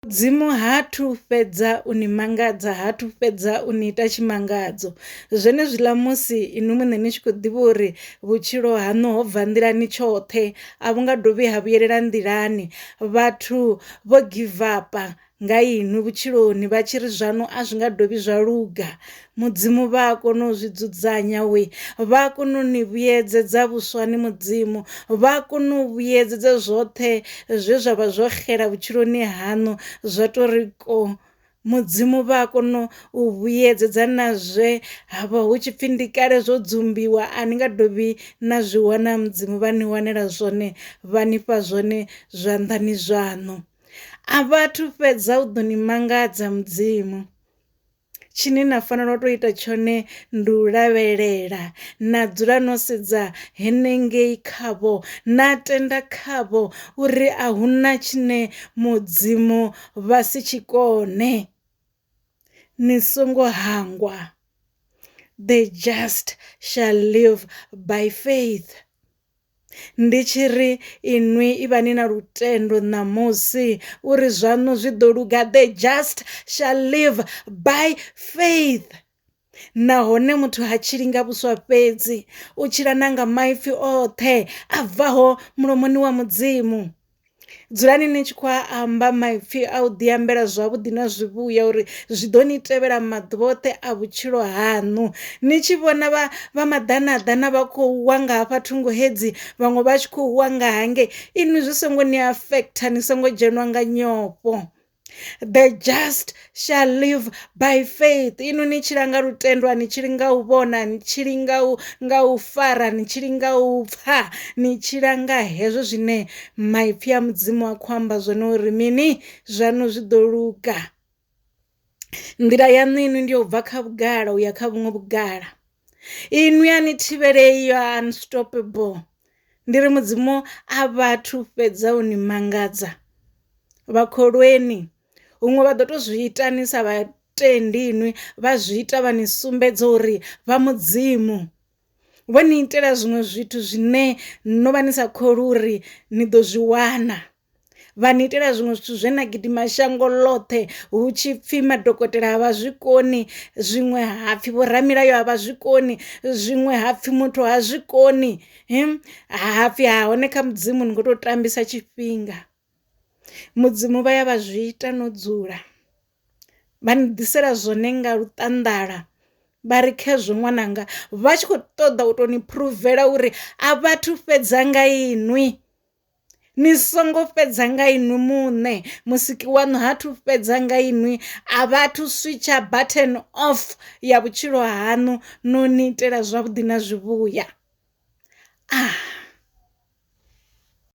Mudzimu ha thu fhedza u ni mangadza ha thu fhedza u ni ita tshimangadzo zwenezwiḽa musi inwi muṋe ni tshi khou ḓivha uri vhutshilo haṋu ho bva nḓilani tshoṱhe a vhu nga dovhi ha vhuyelela nḓilani vhathu vho givapa nga inwi vhutshiloni vha tshi ri zwaṋu a zwi nga dovhi zwa luga Mudzimu vha a kona u zwi dzudzanya we vha a kona u ni vhuyedzedza vhuswa ni mudzimu vha a kona u vhuyedzedza zwoṱhe zwe zwa vha zwo xela vhutshiloni haṋu zwa to ri ko mudzimu vha a kona u vhuyedzedza na zwe ha vha hu tshipfi ndi kale zwo dzumbiwa a ni nga dovhi na zwi wana mudzimu vha ni wanela zwone vha nifha zwone zwanḓani zwaṋu a vhathu fhedza u ḓo ni mangadza mudzimu. Tshine na fanela u to ita tshone ndi u lavhelela na dzula no sedza henengei khavho na tenda khavho uri a hu na tshine mudzimu vha si tshikone ni songo hangwa the just shall live by faith. Ndi tshi ri, Inwi ivhani na lutendo ṋamusi, uri zwaṋu zwi ḓo luga. The just shall live by faith. Nahone muthu ha tshili nga vhuswa fhedzi, u tshila na nga maipfi oṱhe a bvaho mulomoni wa Mudzimu. Dzulani ni tshi khou amba maipfi a u ḓi ambela zwavhuḓi na zwivhuya uri zwi ḓo ni tevhela maḓuvha oṱhe a vhutshilo haṋu. Ni tshi vhona vha vha maḓana ḓana vha khou wa nga hafha thungo hedzi vhaṅwe vha tshi khou wa nga hangei inwi zwi songo ni affect ni songo dzhenwa nga nyofho. the just shall live by faith ino ni tshila nga lutendo ani tshili nga u vhona ni tshili nga u nga u fara ni tshili nga u pfa ni tshila nga hezwo zwine maipfi a mudzimu a khou amba zwone uri mini zwanu zwi ḓo luga nḓila yaṋu inwi ndi yo bva kha vhugala uya kha vhuṅwe vhugala Inwi a ni thivhelei, you are unstoppable. Ndi ri Mudzimu a vhathu fhedza u ni mangadza. Vha kholweni, huṅwe vha ḓo to zwi ita ni sa vha tendi inwi vha zwi ita vha ni sumbedza uri vha Mudzimu. Vho ni itela zwiṅwe zwithu zwine no vha ni sa kholwi uri ni ḓo zwi wana. vha ni itela zwiṅwe zwithu zwe na gidima shango ḽoṱhe hu tshi pfhi madokotela a vha zwi koni zwiṅwe ha pfhi vho ramilayo a vha zwi koni zwiṅwe ha pfhi muthu ha zwi koni ha pfhi ha hone kha mudzimu ni kho to tambisa tshifhinga mudzimu vha ya vha zwi ita no dzula vha ni ḓisela zwone nga luṱanḓala vha ri khezwo ṅwananga vha tshi kho ṱoḓa u to ni phuruvela uri a vhathu fhedza nga inwi. Ni songo fhedza nga inwi muṋe, Musiki waṋu ha thu fhedza nga inwi, a vha thu switsha button off ya vhutshilo haṋu, no ni itela zwavhuḓi na zwivhuya. Ah.